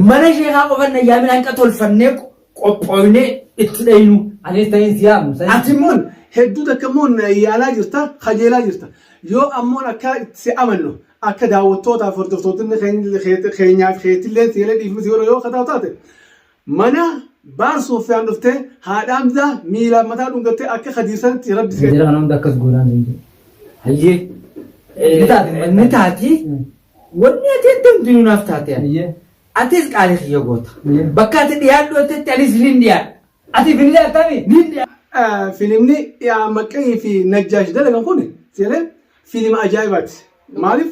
Mana sheekaa qofan dhayyaamin hanqa tolfannee qophooynee itti dhaynu. Anis ta'in si yaamu. Ati immoo hedduu takka immoo yaalaa jirta, kajeelaa jirta. Yoo ammoo akka si amannu akka daawwattootaaf hordoftootni keenyaaf keetillee seelee dhiifnu si godhu yoo akka taate Mana baar suuffiyaan dhuftee haadha amzaa miilaan mataa dhungattee akka kadiir sanatti rabbi si Jira kana hunda akkas goonaan hin jiru. Hayyee. Ni taati. Ni taati. Wanni ati addamtu ni naaf taate. Hayyee. Atis qaalii kiyya goota. Hayyee. Bakka ati dhiyaadhu atetti anis ni dhiyaadha. Ati billee akkaami? Ni dhiyaadha. Ah, filimni yaa maqqanii fi najjaash dalagan kun seeree fiilima ajaa'ibaati. Maaliif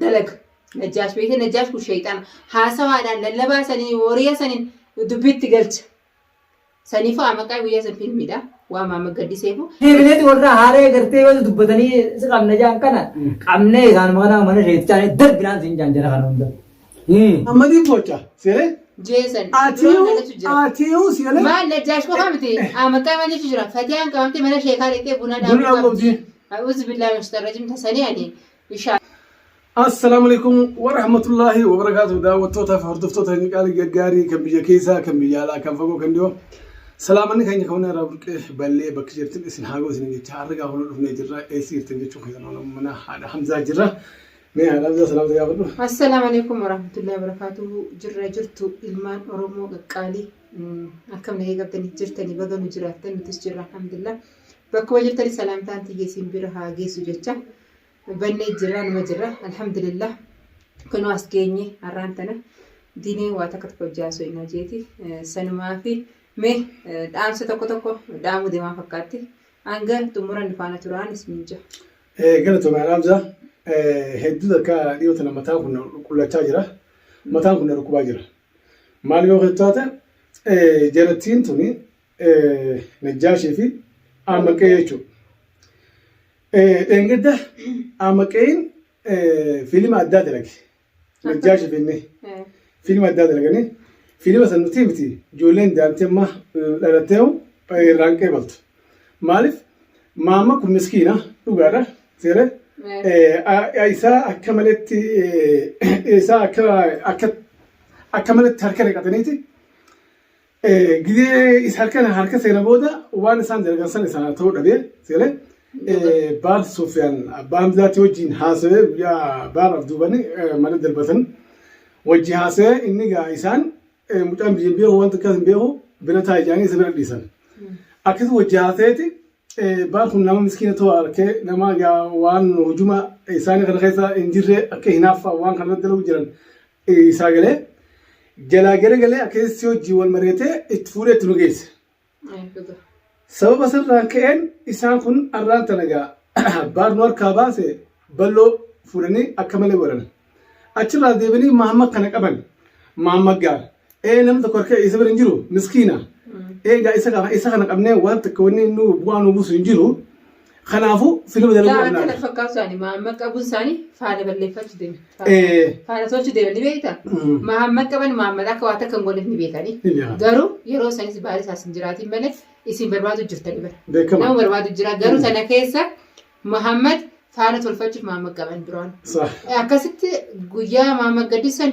dalaga. Najjaash beekte Najjaash kun sheeyxaana. Haasawaadhaan lallabaa sanii wariya saniin dubbiitti galcha. Saniifuu amaqaa guyyaa san fiilmiidha. Waan maama gaddiseefuu. Deebineeti warra haaree gartee yoo dubbatanii si qabna jaan kana qabnee isaanuma kana mana sheeyxaana darbinaan siin jaan jara kana hunda. Ammadii toocha siree. Jeesan. Atiyuu atiyuu siree. Maal Najjaash qofa miti. Amaqaa mana jechu jira. Fatiyaan qabamtee mana sheekaa dhaqxee buna dhaabuu qabdi. A'uuzu billaa mashtarrajim tasanii ani. inshallah. Assalaamu alaikum wa rahmatullahi wa barakaatu daawwattoota fi hordoftoota inni qaalii gaggaarii kan biyya keessaa kan biyya alaa kan fagoo kan dhiyoo salaamanni keenya kan irraa burqee ballee bakki jirtin isin haa ga'u isin jecha har'a gaafa nu dhufnee jirra eessi jirtin jechuun keessan oolama mana haadha Hamzaa jirra mee haadha Hamzaa salaamta gaafadhu. Assalaamu alaikum wa rahmatullahi wa barakaatu jirra jirtu ilmaan Oromoo qaqqaalii akkam nagee qabdanii jirtanii baga nu jiraattan nutis jirra alhamdulillah bakkuma jirtanii salaamtaan tiyya isin bira haa geessu jecha. Hubannee jirra numa jirra alhamdulillah kunoo as geenye har'aan tana diinee waa takka tokko hojjaa osoo hin hojeeti sanumaa fi mee dhaamsa tokko tokko dhaamuu deemaa fakkaatti hanga xumura nu faana turaan isiniin jaa. Galatoomaa dhaamsa hedduu takka dhiyoo tana mataa kun qullachaa jira mataan kun na dhukkubaa jira maal yoo taate jarattiin tuni najjaashii fi ammaqee jechuudha. Dheengadda Amaqeen fiilima addaa dalage. Najjaa Shifeennee fiilima addaa dalaganii fiilima san nuti miti ijoolleen daa'imti amma dhalattee hoo irraan qeebaltu. Maaliif maamma kun miskiina dhugaadha seeree isaa akka maletti isaa akka akka akka maletti harka naqataniiti Gizee isa harka harka seena booda waan isaan dalagan san isa ta'uu dhabee seele baar Sufyaan abbaan bilaatti wajjin haasawee guyyaa baar abduubani mana darbatan wajji haasawee inni gaa isaan mucaan biyya hin beeku waan takkaas hin beeku bira taa ijaanii isa bira dhiisan. Akkas wajji haasaweeti baar kun nama miskiina ta'uu harkee nama gaa waan hujuma isaanii kana keessa hin jirre akka hinaaffaa waan kana dalagu jiran isaa galee jalaa gara galee akeessi hojii wal mari'atee itti fuudhee itti nu geesse. Sababa sanarraan ka'een isaan kun arraan tana gaa baarnuu harkaa baase balloo fuudhanii akka malee godhan. Achirraa deebinii Mahammad kana qaban. Mahammad gaara. Ee namni tokko harka isa bira hin jiru miskiina. Eegaa isa kana isa kana qabnee waan takka wanni nu bu'aa nu buusu hin jiru. Kanaafuu filma dalaguu Yaa qabna. akkana fakkaatu isaanii Mahammad qabuun isaanii faana balleeffachuu deema. Ee. Faana tolchuu deema ni beekta. Mm. Mahammad qaban Mahammad akka waan takka hin gooneef ni beekanii. Ni beekan. Garuu yeroo isaaniis baala isaas hin jiraatiin malee isin barbaadu jirtanii bara. Beekama. Nama barbaadu jira. Garuu sana keessa Mahammad faana tolfachuuf Mahammad qaban duraan. Saah. Akkasitti guyyaa Mahammad gaddisan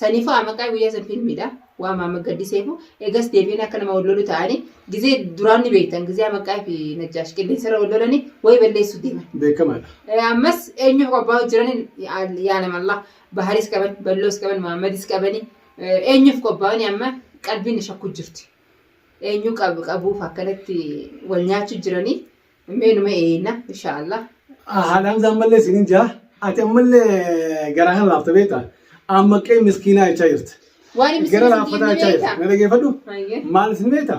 Saniifuu amaqaa guyyaa san filmiidha. Waan maama gaddiseefu eegas deebiin akka nama wal lolu ta'anii gizee duraan ni beektan gizee amaqaa fi najjaash qilleensarra wal lolanii wayi balleessuu deeman. Beekamaadha. Eh, Ammas eenyu qobbaa jiran yaa nama Allah baharis qaban balloos qaban Muhammadis qabani eh, eenyuuf qophaa'ani amma qalbiin na shakkuu jirti. Eenyu qab- qabuuf akkanatti wal nyaachuu jiranii Mee numa eeyna insha Allah. Haadha Hamzaa ammallee isiniin jaa ati ammallee garaa kan laafta beekta amma qe'ee miskiinaa jechaa jirta. Waan inni Gara isiniif laaffataa hin jechaa jirta. beekta. Na dhageeffadhu. Hayyee. Maal isin beekta?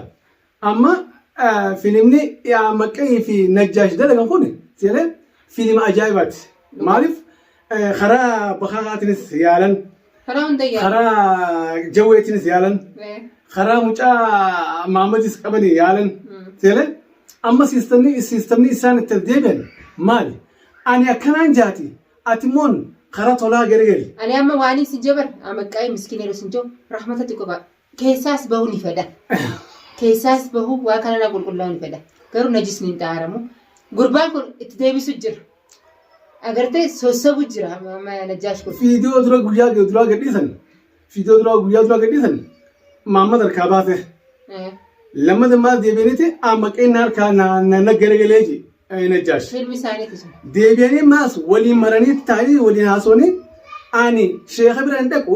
Amma eh, filimni yaa maqqee fi najjaash dalagan kun seenee fiilima ajaa'ibaati. Maaliif Eh, Karaa bakaakaatinis yaalan, Karaa hunda yaala. karaa jawweetinis yaalan, Eh, karaa mucaa maamadis qabanii yaalan. mm. Seelee amma siistamni siistamni isaan itti deebi'an maali? Ani akkanaan jaati ati moon karaa tolaa gargari. Ani amma waanii si jabar amaqqaa'ee miskiina yeroo sin jiru rahmata xiqqoo ba'a. Keessaas bahuu ni fedha. Keessaas bahuu waa kanarraa qulqullaa'uu ni fedha. Garuu najisni hin xaaramu. Gurbaan kun itti deebisu jira. Agartee sossobu jira najjaash kun. Fiidiyoo dura guyyaa duraa gadhiisan. Fiidiyoo dura guyyaa duraa gadhiisan. Maamma harkaa baate. Lammata maal deebiiniti amma qinna harkaa na garagalee ji. Najjaash. Filmi isaaniitu sun. Deebi'anii maas waliin maranii taa'anii waliin haasawanii ani sheeka bira hin dhaqu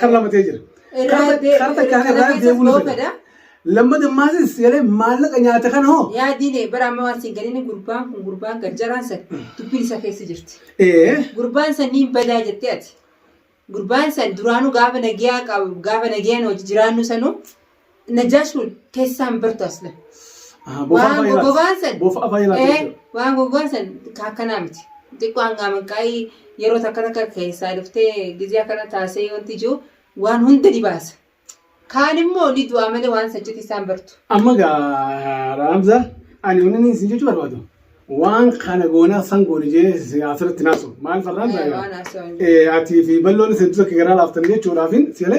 kan lamatee jira. Karta kaan irraa deemuu ni fedha. Lammata maasis jedhee maallaqa nyaata kana hoo. Yaa diine bara amma waan siin galini gurbaan kun gurbaan gad jaraan san dubbiin isa keessa jirti. Ee. Gurbaan san niin badaa jettee ati. Gurbaan san duraanuu gaafa nagiyaa qabu gaafa nagiyaan hojii jiraannu sanuu Najaash kun keessaan bartu asla. Aha, bofaa Waan fayyadaas. goggogaan san. Bofaa fayyadaas Eh, jechuudha. Waan goggogaan san ka akkanaa miti. Xiqqoo hangaa manqaa'ii yeroo takka takka keessaa dhuftee gizee akkana taasee wanti jiru waan hunda ni baasa. Kaan immoo ni du'aa malee waan sachitti isaan bartu. Amma gaa Raamza ani wanni isin jechuu barbaadu. waan kana goonaa san goone jee si asirratti naasu maal farraan Eh, taa'e waan haasawaan jiru. Eh, atii fi balloon isin dura garaa laaftan jechuudhaaf sile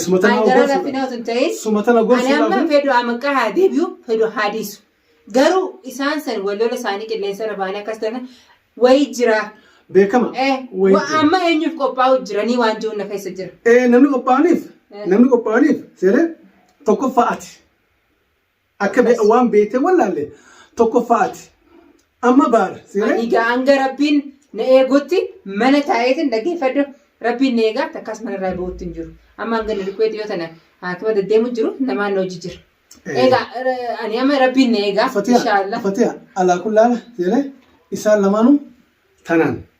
sumatana Ani garaa laafina gorsuudhaaf osoo hin ta'in sumatana ani amma gorsuudhaaf fedhu amaqaa haa deebi'u fedhu haa dhiisu. Garuu isaan san wallola isaanii qilleensa irra baanii akkas ta'an wayii jira. beekama Eh, Wayii wa- jira. amma eenyuuf qophaa'u jiranii waan jiru na keessa jira. Eh, namni qophaa'aniif Eh. namni qophaa'aniif sile tokkoffaa ati Akka be- Anas. waan beektee wallaalle tokkoffaa ati. Amma baara. Seeree? Ani egaa hanga rabbiin na eegutti mana taa'eetiin dhaggeeffadhu rabbiin na eegaa takkaas mana irraa bahuutti hin jiru. Amma hanga inni dhukkubeetti yoo tana haakima deddeemu jiru namaan na hojii jira. Eh. Egaa eh, ani amma rabbiin na eegaa Fatiha, inshaallah. Fatiha, alaa kullaala seeree isaan lamaanuu tanaan.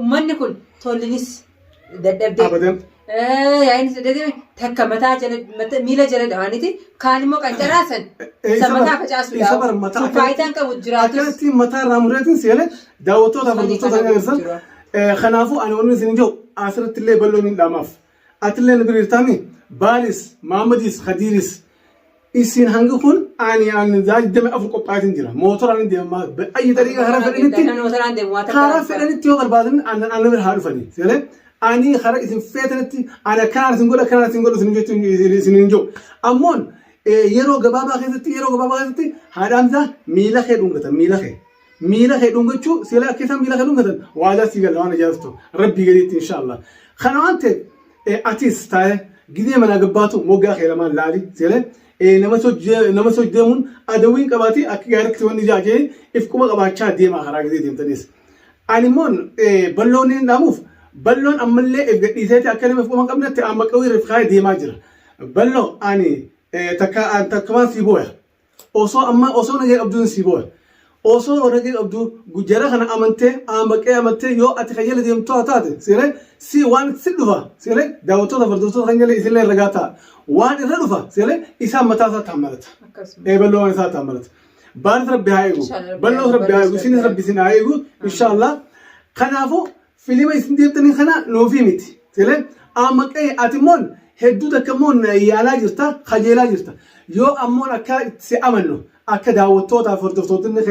Ummanni kun tollinis dadhabdee. Abadan. Yaa'iinis dadhabdee takka mataa jala mata- miila jala dhawaaniti kaan immoo qancaraasan isa mataa facaasu Isa bara mataa sun faayidaan qabu jiraatus Akkatti mataa irraa mureetiin seenee daawwattoota Kan hordoftoota kana hin agarsiisan. jira. Eh, Kanaafuu ani wanni isin jiru asirratti illee bal'oo miidhaamaaf. Atillee nu diriirtaa mi? Baalis, Maammadiis, Kadiiris. Isin hangi kun ani ani daa'imman afur qophaatiin jira. Mootoraan deemaa ayyi dariiqa karaa fedhanitti Mootoraan deemu waa takka karaa hin fedhanitti yoo barbaadan ana ana bira haa dhufanii. Seeree ani karaa isin feetanitti ana kanaan isin godha kanaan isin godha isin jechuu isin isin hin jiru. Ammoon eh, yeroo gabaabaa keessatti yeroo gabaabaa keessatti haadhaan isaa miila kee dhungata miila kee. miila kee dhungachuu sila akka isaan miila kee dhungatan waadaa sii galla waan ajaa'ibtu rabbii gadiitti inshaallah kana waan ta'eef eh, atis taa'e gidee manaa gabbaatu moggaa kee lamaan laali sile eh, nama sojjee- nama soj deemuun adawwiin qabaatee akka gaariitti wanni jaajee if quba qabaachaa deemaa karaa gidee deemtanis ani immoo eh, balloon hin dhaamuuf balloon ammallee if gadhiiseeti akka nama if quba hin qabnetti amma qawwee irratti kaa'ee deemaa jira balloo ani eh, takka an takkumaan sii booya Osoo ammaa osoo nagee qabduun sii booya. Osoo nagee qabduu jara kana amantee aambaqee amattee yoo ati kan jala deemtu haa taate seene si waan si dhufa seene daawwattoota fardootoota kan jala isillee ragaa ta'a. Waan irra dhufa seene isaan mataa isaa taammalata. Akkasuma. Ee balloowwan isaa taammalata. Baaris rabbi haa eegu. Inshallah, Balloos rabbi haa eegu. Isinis rabbi isin haa eegu. Inshallah. Kanaafuu Filima isin deemtanii kana nuufi miti. Tele amma qe'e ati immoon hedduu takka immoo na yaalaa jirta, kajeelaa jirta. Yoo ammoon akka si amannu akka daawwattootaaf hordoftootni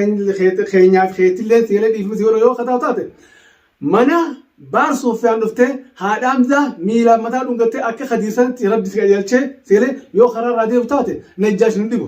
keenyaaf keetillee teelee dhiifni si godha yoo akka taatu taate mana baar suuffiyaan dhuftee haadha amzaa miilaan mataa dhungattee akka kadiir sanitti rabbi si qajeelchee teelee yoo karaa irraa deebitu taate najjaash hin dhibu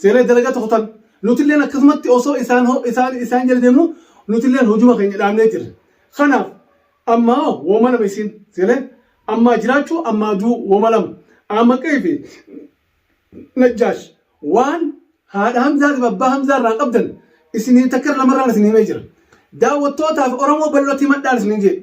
Seenaa dalagaa tokko tan nutilleen akkasumatti osoo isaan ho- isaan isaan jala deemnu nutilleen hojuma keenya dhaabnee jirra. Kanaaf ammaa hoo wooma lama isiin seenee ammaa jiraachuu ammaa duu wooma lama. Amma qe'ee fi najjaash waan haadha Hamzaa fi abbaa Hamzaa irraa qabdan isinii takka lamarraan isin himee jira. Daawwattootaaf Oromoo bal'ootti himadhaan isinin jedhe.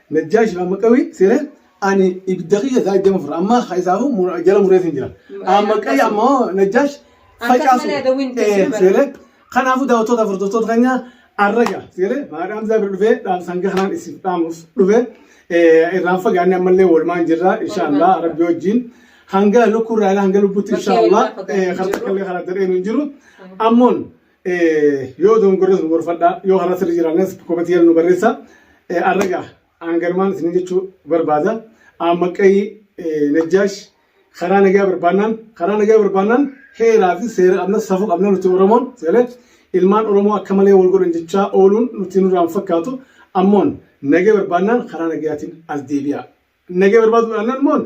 Najjaash Raamaqawii seenee ani ibidda kiyya isaa iddama fura amma ka isaafuu mura- jala muree siin jira. Amma qayya amma hoo Najjaash facaasu. malee adawwiin itti Eh, bara. seenee kanaafuu daawwattoota furdurtoota keenyaa arraga seenee maadhaa Hamzaa bira dhufee dhaamsa hanga kanaan isin dhaamuuf dhufee eh, irraan fagaannee ammallee walmaan jirra inshaallah rabbi wajjin hanga lukkuu irraa hanga lubbutti Rabbi inshaallah walirraa fagaannee eh, karta jirru. kallee karaa daree nu hin jiru ammoon Yoo dogongorres nu gorfadhaa, yoo karaa sirrii jiraannes kometii jala nu barreessaa. Arraga aanganumaan isin jechuu barbaada. Aammaqqayi Najjaash karaa nagaa barbaannaan karaa nagaa barbaannaan heeraa fi seera qabna safuu qabna nuti Oromoon seelee ilmaan Oromoo akka malee wal godhan jechaa ooluun nuti nurraan fakkaatu ammoon nagaa barbaannaan karaa nagayaatiin as deebi'aa. Nagaa barbaaduu dhaannaan immoo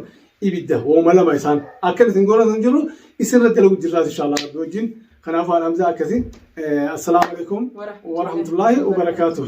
ibidda hooma lama isaan akkan isin goona sun jiru isinirra dalagu jirraas inshaallah rabbi wajjin kanaaf waan hamzaa akkasi assalaamu alaikum warahmatullaahi wabarakaatuh